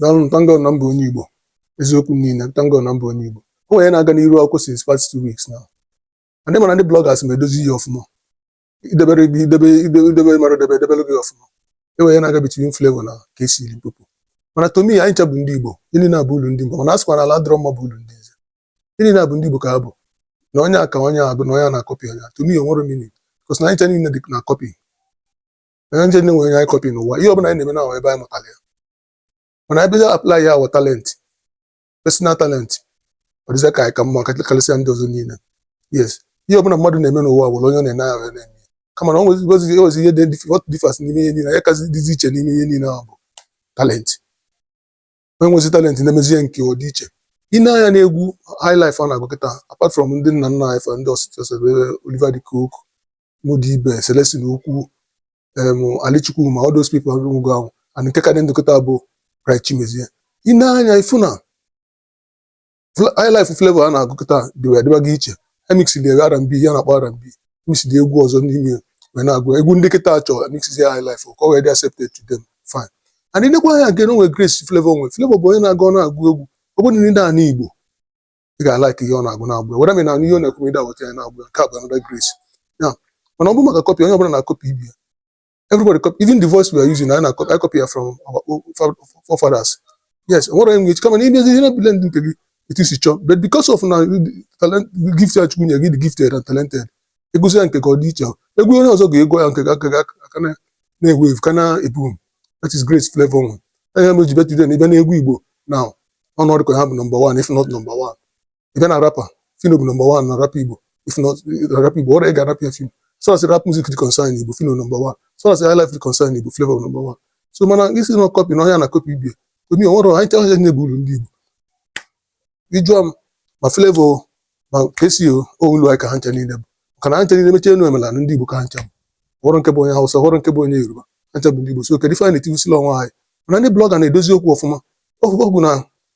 daalụ m thank God na m bụ onye Igbo eziokwu niile thank God na m bụ onye Igbo o nwere ihe na-aga n'iru akwụkwọ since past two weeks now ndị mana ndị bloggers ma edozi ya ọfụma idebere gị idebe idebe idebe mara debe edebere gị ọfụma e nwere ihe na-aga between Flavour na Kcee Limpopo mana to me anyị ncha bụ ndị Igbo ndị naabọ ulu ndị Igbo mana a sịkwa na ala adịrọ mma bụ ulu ndị nze ndị naabọ ndị Igbo ka ha bụ na onye a ka onye a bụ na onye a na-akọpị onye a to me o nwerọ meaning because na anyị ncha niile dị na copy anyị ncha nwere onye anyị copy n'ụwa ihe ọbụla anyị na-eme na ebe anyị mụtara ya mana anyị bido apply ya our talent personal talent ọ dịzị ka anyị ka mma karịsịa ndị ọzọ niile yes ihe ọbụla mmadụ na-eme n'ụwa bụ onye ọ na-ene anya na-eme kama na ọ nwezigozi ewezi ihe dị dif- what differs n'ime ihe niile ihe kazi dịzi iche n'ime ihe niile ahụ bụ talent onye nwezi talent na-emezi ya nke ọ dị iche ị nee anya n'egwu highlife a na-agụ kịta apart from ndị nna nna anyị fa ndị Osita Osadebe Oliver de Coque Muddy Ibe Celestine Ukwu em Ali Chukwuma all those people nwụgo anwụ and nke ka dị ndụ kịta bụ Bright Chimezie ị nee anya ị fụ na highlife Flavour na-agụ kịta dịwa dịbago iche emix dị R&B ihe a na-akpọ R&B mix dị egwu ọzọ n'ime ya wee na-agụ egwu ndị kịta chọọ emix dị highlife ka ọ wee dị accepted to them fine and ị nekwa anya again o nwe grace Flavour nwe Flavour bụ onye na-agụ ọ na-agụ egwu ọ bụrụ na ị na-anụ Igbo ị ga-alike ihe ọ na-agụ na-agụ ya whether ị na-anụ ihe ọ na-ekwu ma ị da-awọta ya na-agụ ya nke a bụ another grace ya mana ọ bụ maka copy onye ọbụla na-akọpị ibe ya everybody copy even the voice we are using na anyị copy ya from our forefathers yes nwere enwe echi kama na imezi ihe na-eblend nke gị etu i si chọọ but because of na talent gift ya Chukwu nye gị dị gifted and talented ị gụsịa nke gị ọ dị iche egwu onye ọzọ ga-agụ ya nke gị ga-aka na na-ewu ewu ka na-eboom that is grace Flavour nwe anya m ji bụ today na ị bịa n'egwu Igbo now ọnọdụ ka ha bụ number one if not number one ị bịa na rap Phyno bụ number one na rap Igbo if na rap Igbo ọrịa ị ga-arapịa Phyno so as rap music dị concern Igbo Phyno number one so as high life dị concern Igbo Flavour number one so mana ị sị na copy na onye a na-akọpị ibe ya to me o nwerọ anyị chọrọ ihe na-abụ uru ndị Igbo ị jụọ m ma Flavour ma Kcee ulu anyị ka ha ncha niile bụ maka na ha ncha niile mechie enu mechie ala ndị Igbo ka ha ncha bụ o nwerọ nke bụ onye Hausa o nwerọ nke bụ onye Yoruba ha ncha bụ ndị Igbo so kedu ife anyị na-etigbusili onwe anyị mana ndị blogger na-edozi okwu ọfụma ọgwụgwụ na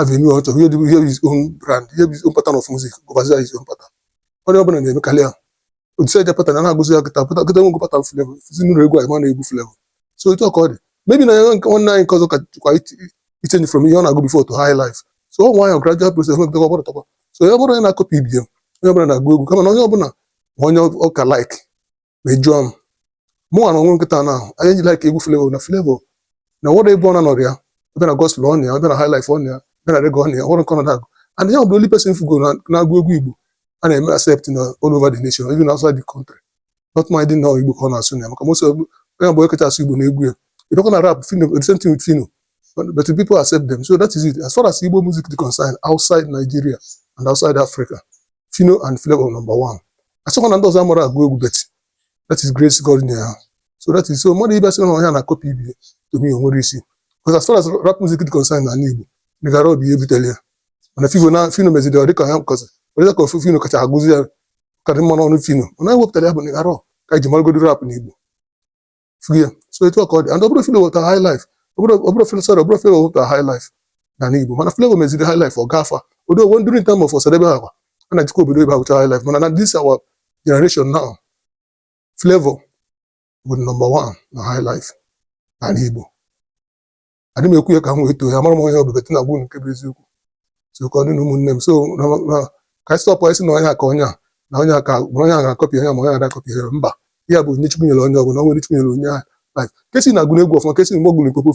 avenue ọ chọrọ ihe dị ihe his own brand ihe bụ his own pattern of music gụbazi ya his own pattern onye ọbụla na-emekarị ya odise eje pattern a na-agụzi ya kịta pụta kịta nwego pattern Flavour si na-agụ egwu anyị ma na egwu Flavour so otu a ka ọ dị maybe na ya nke nwanne anyị nke ọzọ ka jikwa ichange from ihe ọ na-agụ before to high life so ọ nwayọ gradual process nwepụta ọgbọrọ tọkwa so onye ọbụla onye na-akọpị ibe ya onye ọbụla na-agụ egwu kama na onye ọbụla ma onye ọ ka like ma ị jụọ m mụ nwa na onwe m kịta na ihe anyị ji like egwu flavour na flavour o nwerọ ebe ọ na-anọrọ ya ị bịa na gospel ọ nọ ya ị bịa na highlife ọ nọ ya ị bịa na reggae ọ nọ ya o nwerọ nke ọ na-agụ and ya bụ only person m fụgo na- na-agụ egwu igbo a na-eme accept na all over the nation even outside the country not minding na igbo ka ọ na-asụ na ya maka most onye bụ eketa asụ igbo na egwu ya you don't gonna rap phyno the same thing with phyno but, but the people accept them so that is it as far as igbo music is concerned outside nigeria and outside africa phyno and flavour number one asịrọkwa na ndị ọzọ amarọ agụ egwu but that is grace god nyere ha so that is so mmadụ ịbịa sị na onye a na-akọpị ibe to me o nwerọ isi because as far as rap music is concerned na ala igbo nigga raw bụ onye butere ya mana ị fụ na phyno meziri ọ dịka ya nkọzi ọ dị ka ọ bụ phyno kacha agụzi ya karị mma n'ọnụ phyno mana onye wepụtara ya bụ nigga raw ka anyị ji maragodi rap n'igbo frie so etu a ka ọ dị and ọ bụrọ phyno weta high life ọ bụrọ phyno sorry ọ bụrọ flavour weta high life n'ani Igbo mana flavour meziri high life ọ gafa although even during time of osadebe ha kwa a na-ejekwa obodo oyibo agụcha high life mana na this our generation now flavour bụ number one na high life n'ani Igbo adị m ekwu ya ka m wee too ya amarọ m onye ọ bụ but m na agwa unu nke bụ eziokwu so ka ọ dị na ụmụnne m so na na ka anyị stọpụ ịsị na onye a ka onye a na onye a ka ma onye a ga-akọpị onye a ma onye a ga-akọpị ya mba ihe a bụ onyinye chukwu nyere onye ọbụla o nwere chukwu nyere onye ahụ Like, kcee na agụ egwu ọfụma kcee na mgbe ọ gụ limpopo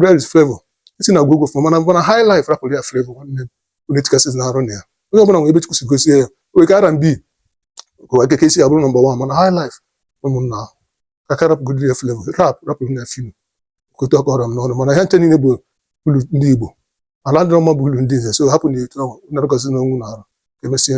where is flavour kcee na agụ egwu ọfụma mana mana high life rapụrụ ya flavour nwanne m o nwedị ihe kcee na arụ na ya onye ọbụla nwere ebe chukwu si gọzie ya o nwere ike R&B ka kcee abụrụ number one mana high life ụmụnna ahụ ka ka rapụgodiri ya flavour rap rapụrụ nụ phyno kote ọkọrọ m n'ọnụ mana ha ncha niile bụ ulu ndị Igbo ala ndị ọma bụ ulu ndị nze so hapụ na etu ahụ na-arụkọzi ngwa nọrọ ka emesịa